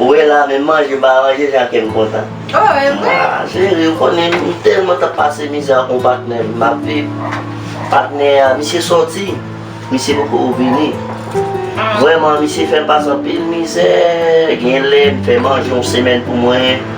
Ou wè la men manje pa ranje jan kèm kontan. Oh evre? Ah chérie ou konnen m telman tap pase mizè ak yon patnè m map viv. Patnè a misye sòti, misye poko vini. Vrèman misye fèm pase anpil mizè, genlè m fè manje yon semèn pou mwen.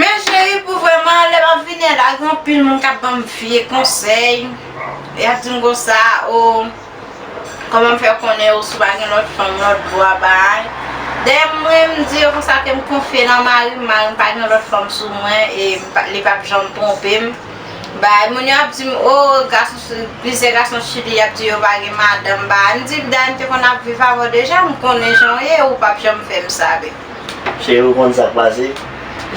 Men cheri pou vreman lè map vini an la gen anpil moun kap banm vye konsèy yap dim konsa oo kòman m fè konnen yo si w pa gen lòt fanm lòt bò a bay dè mwen m di yo konsa ke m konfye nan mari m mari m pa gen lòt fanm sou mwen e li pap janm twonpe m bay moun yo ap di m oo gason sou plizyè gason sou li yap di yo pa gen madanm bay m di bday m te konn ap viv avè w deja m konnen jan w ye ou pap janm fè m sa bby. Cheri ou konn sak pase,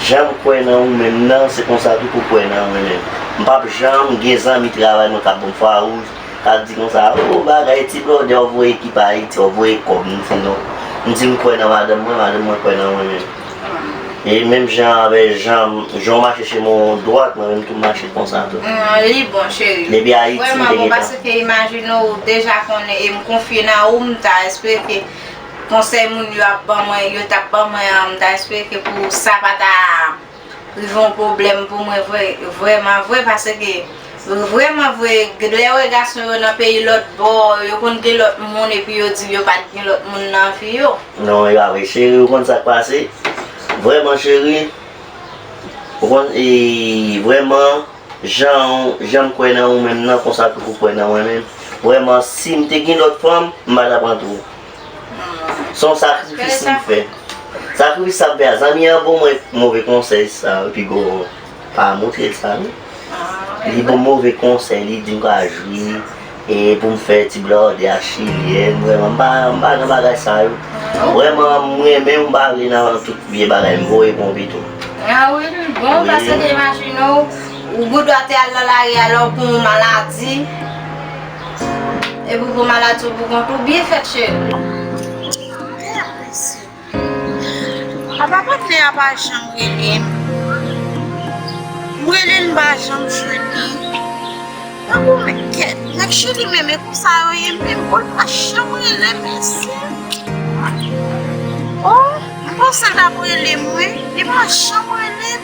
janm kwè nan ou menm nan se konsa tou pou kwè nan mwen menm. M pap janm gen zanmi travay mwen kap banm fwa wouj, kap di konsa oh bagay ti blòdè w voye ki pa Ayiti w voye kòb m di non. M di m kwè nan madanm mwen, madanm mwen kwè nan mwen menm. E menm jan avè janm, jan w mache chez mwen w dwat mwen menm tou m mache konsa tou. Humm li bon cheri. Depi Ayiti m te gentan. Vrèman bon paske imajine ou deja konnen e m konfye nan ou m ta espere ke Konsèy moun yo ap ban mwen, yo tap ban mwen an, m ta espere ke pou sa pa ta rive yon pwoblèm pou mwen vre, vrèman vre paske vrèman vre lè wè gason yo nan peyi lòt bò yo konn gen lòt moun epi yo di yo pat gen lòt moun nan vi yo. Non e pa vre cheri ou konn sak pase vrèman cheri ou konn e vrèman. Janw janm kwè nan ou menm nan konsa tou pou kwè nan mwen menm vrèman sim te gin lòt fanm m pa ta pran tou son sakrifis m fè sakrifis sa m fè a zanmi an bon mwen move konsèy sa epi gogo pa moutrel sa non li banm move konsèy li dim pa jwi. E poum fè ti blòdè ak chilye m vreman m pa nan bagay sa yo vreman m renmen m pa vle nan tout vye bagay m voye pou yon pito. A wi m bon paske gen imajine w ou gou dwa te al nan lari a lè w pou yon maladi epi w pou maladi w pou kont ou byen fèt cheri. Apa patnè a pa janm relem m relel m pa janm jwenn li tankou men nèg chili menm e konsa yo ye menm bon l pa janm relem mesye oh m panse l tap relem wi li pa janm relem.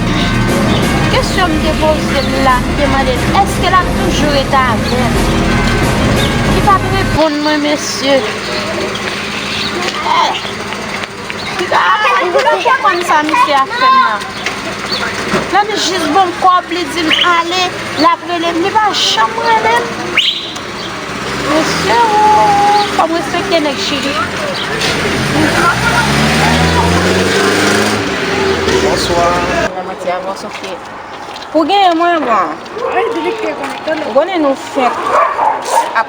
Kesyon m te poze l la, m te mande l èske l ap toujou rete avè l. Li pa t reponn mwen mesye. Ou pa t konprann sa misye ap fè m nan. Lè m jis ba l kòb li di m ale, l ap rele m, li pa janm rele m. Mesye ooh fòm respekte nèg chili. Bonsoir. Nan manti avan sofie. Pou genyen mwen bon. Ou konnen nou fenk ap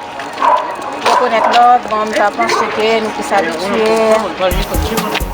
rekonet lòt bon m ta panse ke nou plis abitye.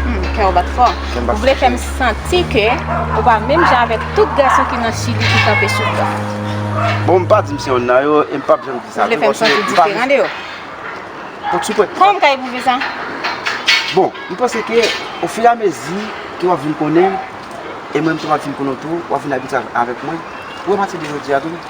Humm kè w bat fò. Ou vle fè m santi ke ou pa menm jan avèk tout gason ki nan chili ki kanpe sou bra. Bon m pa di m se yonn nan yo e m pap janm di sa tou paske m pa vle. Ou vle fè m santi diferan de yo. Bon sou pwen. Kòman m ka epwouve sa? Bon m panse ke o fi a mezi ke w ap vin konnen m e mwen m tou m ap vin konnen w tou w ap vin abitye avèk mwen ou a pati de jodi a tou.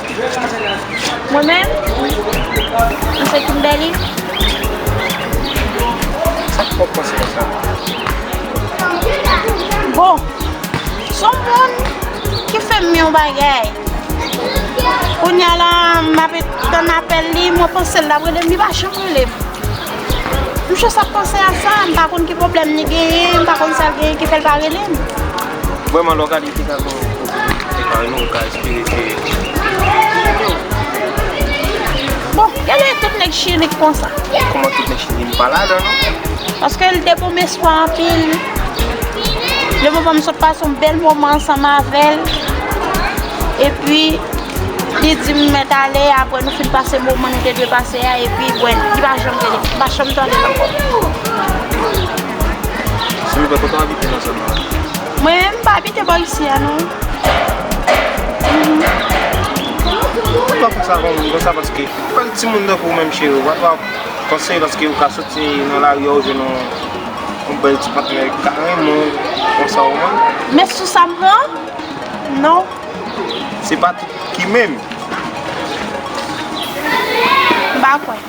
Mwen menm, wi, mwen se Kimberly. Sa k fè w panse konsa? Bon, son moun ki fè m yon bagay. Kounya la, m ape tann apèl li, mwen panse l ap rele m, li pa janm rele m. M jis ap panse a sa, m pa konn ki pwoblèm li genyen, m pa konn sa l genyen ki fè l pa rele m. Vreman lè w gade dega ke w fè kay nou ou ka espere ke Chile ou Bon gade tout nèg chili k konsa. Kòman tout nèg chili m pa ladan non. Paske l de bon espwa anpil. Le moman m sot pase yon bèl moman ansanm avè l. Epi li di m mèt ale apre nou fin pase moman nou te dwe pase a epi bwèl li pa janm rele m pa janm tande l ankò. Sou River kote w abite nan zòn nan? Mwen m pa abite bò isi a non. Ou pa konsa kon moun konsa paske anpil timoun tankou w menm cheri w pa twa konseye paske ou ka soti nan lari a ou jwenn yon bèl ti patnè ki ka renmen w konsa ou menm. Men sou sa m pran non. Se pa tout ki menm. M pa kwè.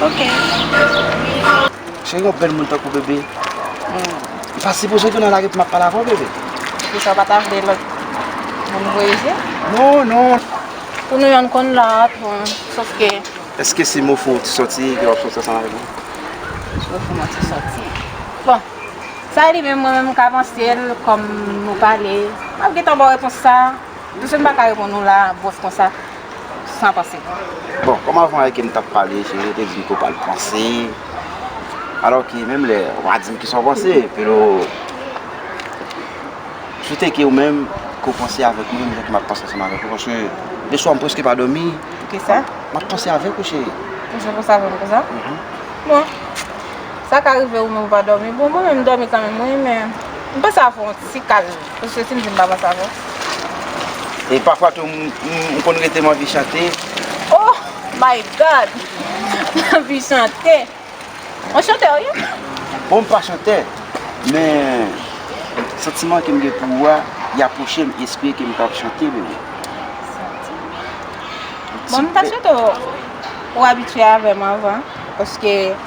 ok. Cheri wap bèl moun tankou bébé. Ou pa sipoze vin nan lari pou map pale avèw bébé. Poukisa ou pa ta vle lòt moun voye je? Non non. Pou nou yonn konn la pou sof ke. Eske se mou fou ou ti sòti ke wap sòti ansanm avèk mwen? Mou fou mwen ti sòti. Bon sa li menm mwen menm mka pansel kòm nou pale map gentan baw repons sa. Msye mpa ka reponn ou la bwòs konsa san panse. Bon, kòm avan e ke m t ap pale, se ou te di m ke w pa al panse, alò ke menm lè ou pa di m kisa w panse, pero, m swete ke ou menm, ke w panse avèk mwen menm jan ke m ap panse ansanm avèk ou, paske leswa m prèske pa dòmi, m ap panse avèk ou cheri. Ou janm panse avèk mwen konsa? Bon, sa ka rive ou menm ou pa dòmi, bon mwen menm m dòmi kanmenm wi, men m panse avèk ou yon ti kal. Paske sim di m pa panse avè w. E pafwa tou m konn rete m anvi chante. Oh my God! M anvi chante. Ou chantè ou ye? Bon m pa chantè men santiman ke m gen pou ou a li apwoche m espre ke m kapab chante bebe. Santiman. Bon m ta swete w ou abitye avè m anvan paske.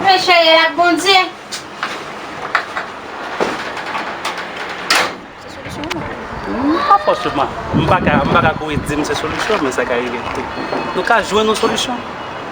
Mwen chèyèl ak Bondye. Se solisyon ou mwen? Pa fòseman. M pa ka kouri di m se solisyon men sa ka rive tou. Nou ka jwenn yon solisyon.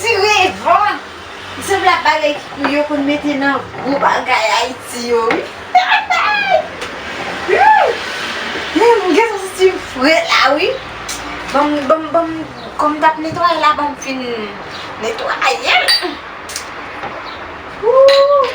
Direvan! Li sanble ak bagay ki pou yo konn mete nan gwo bagay Ayiti yo wi. Humm gen yon ti fre la wi. Banm banm banm kòm m tap netwaye la banm fin netwaye l. Ooh.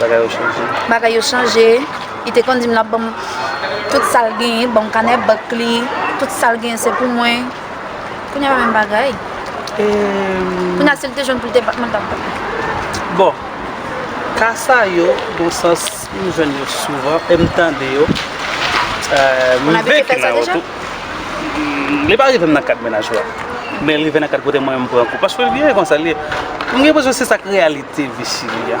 Bagay yo chanje. Bagay yo chanje. Li te konn di m l ap ban m tout sa l genyen, ban m kanè bank li, tout sa l genyen se pou mwen. Kounye a pa menm bagay. Kounye a si l te jwenn pou l te bat mwen, l t ap bat mwen. Bon, ka sa yo gon sans m jwenn yo souvan e m tande yo. M rive ki nan yo tou. Li pa rive m nan kad mennaj la. Men l rive nan kad kote mwen menm m pran kou. Paske l gen konsa l ye. M gen enpresyon se sa k reyalite vi Chili a.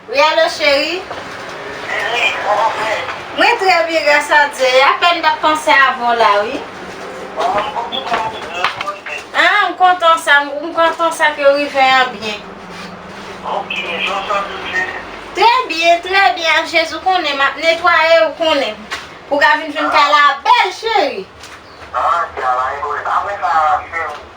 Wi alo cheri. Nini, kòman w ye? Mwen trè byen gras a Dye, e apèn m t ap panse avè w la wi. Bon, mwen kontan w ka rive an bònè. Ah, m kontan sa, m kontan sa ke w rive an byen. Ok, jan w santi w ye? Trè byen, trè byen ak Jezi w konnen m ap netwaye ou konnen m. Pou w ka vin jwenn kay la bèl cheri. Ah, travay dwe, apre sa cheri.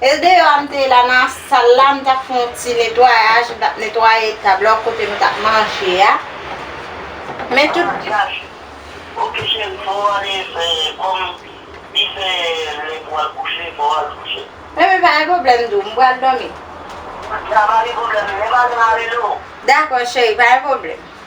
El deyò a m te la nan sal la m tap fè yon ti netwayaj m tap netwaye tab la kote nou tap manje a men tout ah Jacky ok cheri fò w ale fè kòm li se lè pou w al kouche fò w al kouche. Bebe pa gen pwoblèm doux m pral dòmi. Sa pa gen pwoblèm men pa gen marelo. Dakò cheri pa gen pwoblèm.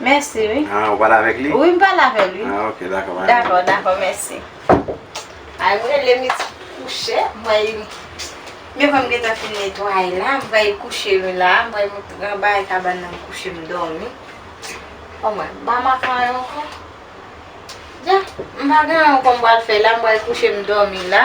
Mèsi wi. Ah, ou pale avèk li? Wi, m pale avè l wi. Ah, ok, dakò, bye. Dakò, dakò, mèsi. Ay, m rele m resi kouche. M wè y, m wè m gentan fin netwaye la. M wè y kouche wi la. M wè m ranbaye kabann nan m kouche m dòmi. Bon mwen, m pa makè anyen ankò. Dja, m pa gen anyen ankò m pral fè la. M wè y kouche m dòmi la.